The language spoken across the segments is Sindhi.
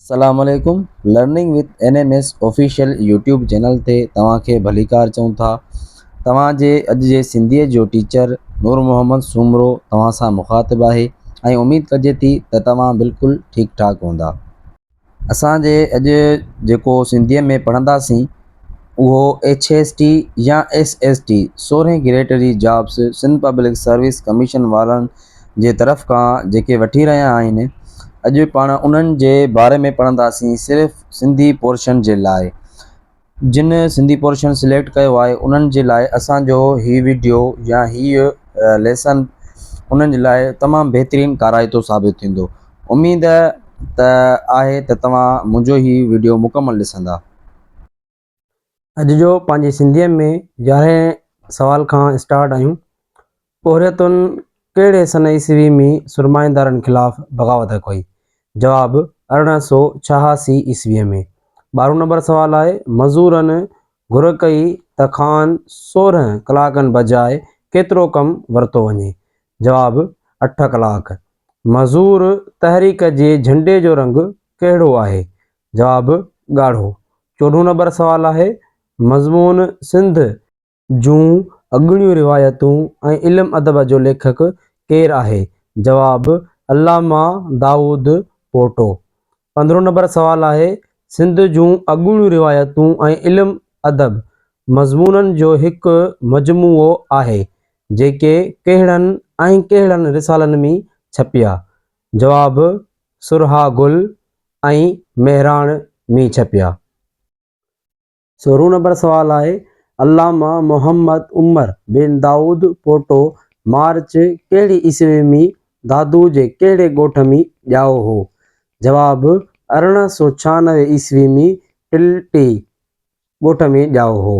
السلام عليڪم learning with N M S official YouTube channel تي توهان کي ڀليڪار چئون ٿا توهان جي اڄ جي سنڌي جو ٽيچر نور محمد سومرو توهان سان مخاطب آهي ۽ اميد ڪجي ٿي ته توهان بلڪل ٺيڪ ٺاڪ هوندا اسان جي اڄ جيڪو سنڌيء ۾ پڙهنداسين اهو ايڇ ايس ٽي يا ايس ايس ٽي سورهين گريڊ جي jobs Sindh public service commission وارن جي طرف کان جيڪي وٺي رهيا آهن اڄ پاڻ انهن جي باري ۾ پڙهنداسين صرف سنڌي پورشن جي لاء جن سنڌي پورشن سليڪٽ ڪيو آهي انهن جي لاء اسان جو هي وڊيو يا هي ليسن انهن جي لاء تمام بهترين ڪارائتو ثابت ٿيندو اميد ته آهي ته توهان منهنجو هي وڊيو مڪمل ڏسندا. اڄ جو پنهنجي سنڌيء ۾ يارهين سوال کان اسٽارٽ آهيون پورهيتون ڪهڙي سنه عيسوي ۾ سرمائيدارن خلاف بغاوت ڪئي؟ جواب، ارڙهن سؤ ڇهاسي عيسويء ۾. ٻارهون نمبر سوال آهي، مزورن گهر ڪئي ته کان سورهن ڪلاڪن بجاء ڪيترو ڪم ورتو وڃي؟ جواب، اٺ ڪلاڪ. مزور تحريڪ جي جهنڊي جو رنگ ڪهڙو آهي؟ جواب، ڳاڙهو. چوڏهون نمبر سوال آهي، مضمون سنڌ، جون اڳوڻيون روايتون ۽ علم ادب جو ليکڪ ڪير آهي؟ جواب، علامه دائود پوٽو. پندرهون نمبر سوال آهي، سنڌ جون اڳوڻيون روايتون ۽ علم ادب مضمونن جو هڪ مجموعو آهي، جيڪي ڪهڙن ۽ ڪهڙن رسالن ۾ ڇپيا؟ جواب، سرها گل ۽ مهراڻ ۾ ڇپيا. سورهون نمبر سوال آهي، علامه محمد عمر بن دائود پوٽو مارچ ڪهڙي عيسوي ۾ دادو جي ڪهڙي ڳوٺ ۾ ڄائو هو؟ جواب، ارڙهن سؤ ڇهانوي عيسوي ۾ ٽلٽي ڳوٺ ۾ ڄائو هو.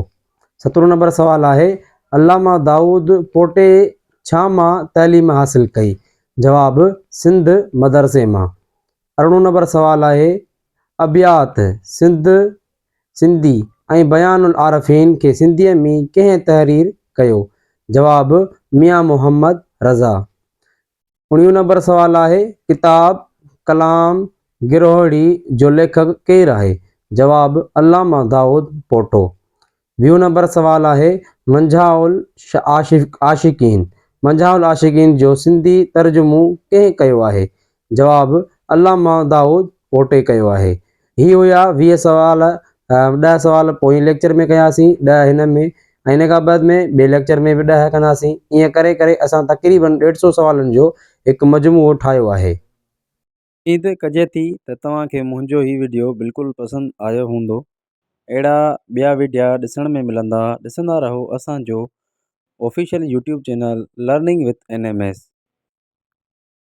سترهون نمبر سوال آهي، علامه دائود پوٽي ڇا مان تعليم حاصل ڪئي؟ جواب، سنڌ مدرسي مان. ارڙهون نمبر سوال آهي، ابيات سنڌ سنڌي ۽ بيان العارفين کي سنڌيء ۾ ڪنهن تحرير ڪيو؟ جواب، ميان محمد رضا. اڻيون نمبر سوال آهي، ڪتاب ڪلام گروهڙي جو ليکڪ ڪير آهي؟ جواب، علامه دائود پوٽو. ويهون نمبر سوال آهي، منجها العاشقين منجها العاشقين جو سنڌي ترجمو ڪنهن ڪيو آهي؟ جواب، علامه دائود پوٽي ڪيو آهي. هي هيا ويهه سوال، ڏهه سوال پوئين ليڪچر ۾ ڪياسين، ڏهه هن ۾ ۽ ان کان بعد ۾ ٻئي ليڪچر ۾ به ڏهه ڪنداسين. ائين ڪري ڪري اسان تقريبن ڏيڍ سئو سوالن جو هڪ مجموعو ٺاهيو آهي. اميد ڪجي ٿي ته توهان کي منهنجو هي وڊيو بلڪل پسند آيو هوندو. اهڙا ٻيا وڊيا ڏسڻ ۾ ملندا ڏسندا رهو اسان جو official YouTube channel learning with N M S.